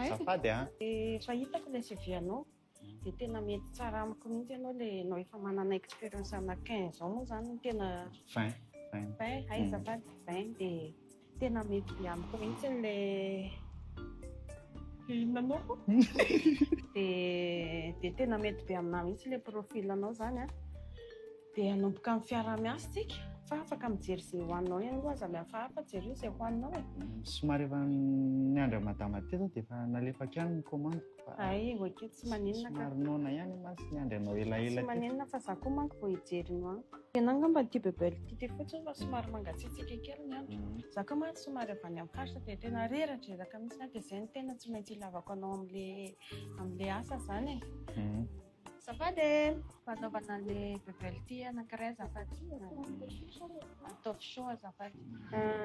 Zafady an! Efa hitako ilay CV-anao. Dia tena mety tsara amiko mihitsy ianao le enao efa manana experience ana 15 ans moa zany no tena 20 20 20 hay azafady 20 dia tena mety be amiko mihitsy le inona moa koa dia dia tena mety be aminah mihitsy le profil anao zany a dia hanomboka amin'ny fiaraha-miasa tsika fa afaka mijery izay ho anao ihany koa aza mihafahafa jereo izay ho anao e somary efa niandry an'i madama teo zao dia efa nalefako ihany ny commande-ko Ay, ok, tsy maninona ka. Somary noana ihany mantsy ny andry anao elaela Tsy maninona fa za koa manko vao hijery no an. Ianao angamba no tia bebelle tite fotsiny fa somary mangatsiatsiaka kely ny andro. Mhm. Za koa mantsy somary avy any amin'ny faritra dia tena reradreraka mihitsy an, dia izay no tena tsy maintsy ilavako anao amin'ilay amin'ilay asa izany e. Mhm. Azafady e! Mba anaovana le bubble tea anankiray azafady e! Ataovy chaud azafady.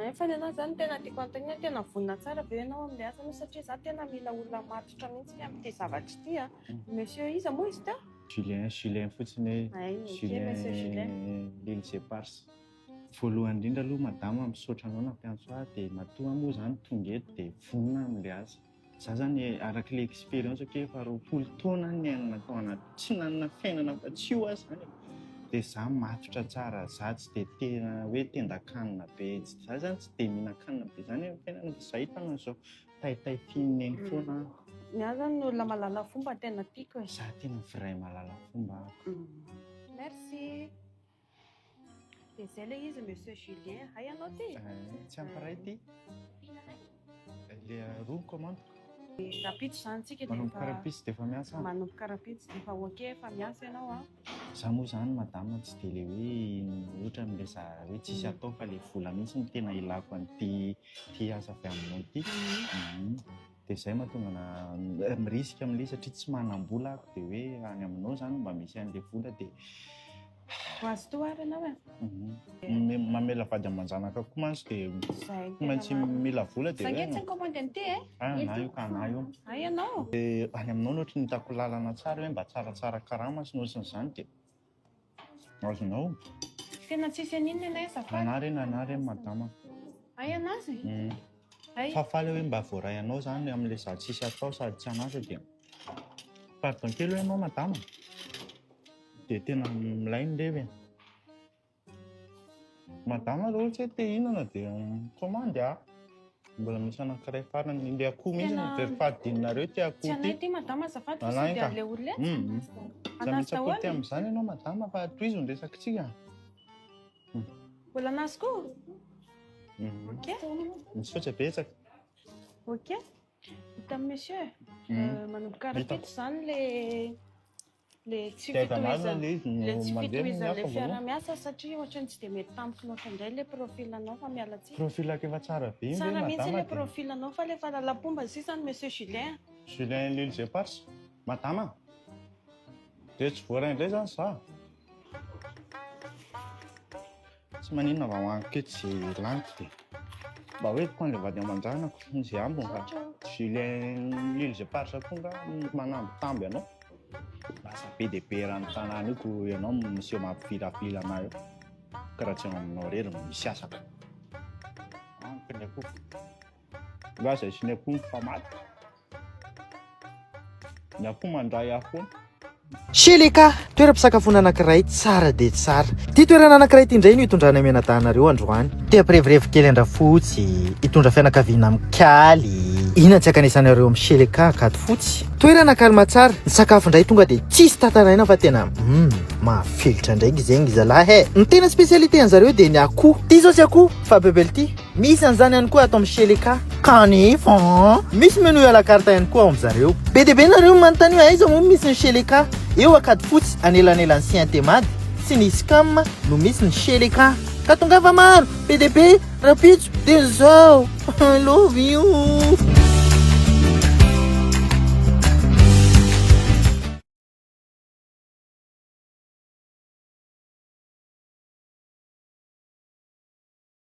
Nefa ny anao zany tena tiako anontaniana hoe tena vonona tsara ve ianao amin'ilay asa anao satria za tena mila olona matotra mihitsy amin'ity zavatra ity a! Monsieur iza moa izy teo? Julien, Julien fotsiny hoe Hay, ok Monsieur Julien. Julien l'ile c'est Pars. Voalohany indrindra aloha madama misaotra anao nampiantso ahy dia matoa aho moa izany tonga eto dia vonona amin'ilay asa. Za zany araka le experience ko efa roapolo taona any niainana tao anaty tsy nanana fiainana fa tsy io aho zany de za matotra tsara za tsy de tena hoe tendakanina be za zany tsy de mihinankanina be zany am fiainana fa za hitana an'zao tay tay tian'ny neny foana aho. Ny ahy zany olona malala fomba tena tiako e. Za tena vrai malala fomba ako. Merci. Dia izay ilay izy Monsieur Julien, hay ianao ity? Tsy hampiray ity. Dia roa commande. Rapitso izany tsika dia efa... Manomboka rapitso dia efa miasa. Manomboka rapitso dia efa ok efa miasa ianao an. Za moa izany madame tsy dia ilay hoe ohatra amin'ilay za hoe tsisy atao fa ilay vola mihitsy no tena ilako an'ity asa avy aminao ity. dia izay mahatonga na mirisika amin'ilay izy satria tsy manam-bola aho dia hoe any aminao izany mba misy an'ilay vola dia ho azy toa ary ianao e mhm. mamela vady aman-janaka koa mantsy dia tsy maintsy mila vola dia hoe tsy commande an'ity e ah, na io ka na io a ah, ianao dia any aminao no ohatry ny hitako lalana tsara hoe mba tsaratsara karama sy nosin'izany dia Azonao? Tena tsisy aninona ianay azafady. Anah re nanah re madama. Hay anah zay. Uhm. Hay. Fa faly aho hoe mba voaray anao zany amin'ilay za tsisy atao sady tsy an'asa dia. Pardon kely hoe ianao madama? Dia tena milay ny revy e. Madama raha ohatra hoe te hihinana dia mikomandy a! Mbola misy anankiray farany, ilay akoho mihitsy no very fahadininareo ity akoho ity. Tsy anay ity madama azafady fa sady an'ilay olona etsy. Aza mitsakotry amin'izany ianao madama fa tohizo ny resakitsika. Mbola an'azy koa? Ok. Misaotra betsaka. Ok. Hita amin'ny monsieur. Manomboka rahampitso izany ilay Le tsy fitohizan'ny le tsy fitohizan'le fiarahamiasa satria ohatrany tsy dia mety tamiko loatra indray le profil anao fa miala tsiny. Profilako efa tsara be ve madama de. Tsara mihitsy le profil anao fa le faralampombany sisa ny monsieur Julien a. Julien l'huile éparse madama de tsy voaray indray zany za. Tsy maninona mba hoaniko eto ze laniko de mba hoentiko an'le vady aman-janako ze ambiny fa Julien Lille ze parsa koa nga manambitamby anao. Lasa be dia be eran'ny tanàna io ko ianao no miseho mampifilafila anah eo ka raha tsy eo aminao irery no misy asako. Amiko ny akoho. Hoe aza asiana akoho ny fa maty. Ny akoho mandray ahy foana. Sheleka, toeram-pisakafoana anankiray tsara dia tsara. Ity toerana anankiray ity indray no hitondranay mianadahinareo androany. Te hampirevirevy kely an-drafotsy, hitondra fianakaviana mikaly. Inona tsy ankanesanareo amin'ny Sheleka Akatofotsy? Toerana calme tsara, ny sakafo indray tonga dia tsisy tataraina fa tena hum, mahafelitra ndraiky zegny zalahy eh. Ny tena spécialité an'zareo dia ny akoho. Ty zao tsy akoho fa bebel ty. Misy an'izany ihany koa ato amin'ny Sheleka. Kanefa an! Misy menu à la carte ihany koa ao amin-dry zareo. Be dia be nareo no manontany hoe aiza moa no misy ny Sheleka? Eo Ankadifotsy, anelanelan'ny Siantemad sy ny Scam no misy ny Sheleka. Ka tongava maro, be dia be, rahampitso dia izao! I love you!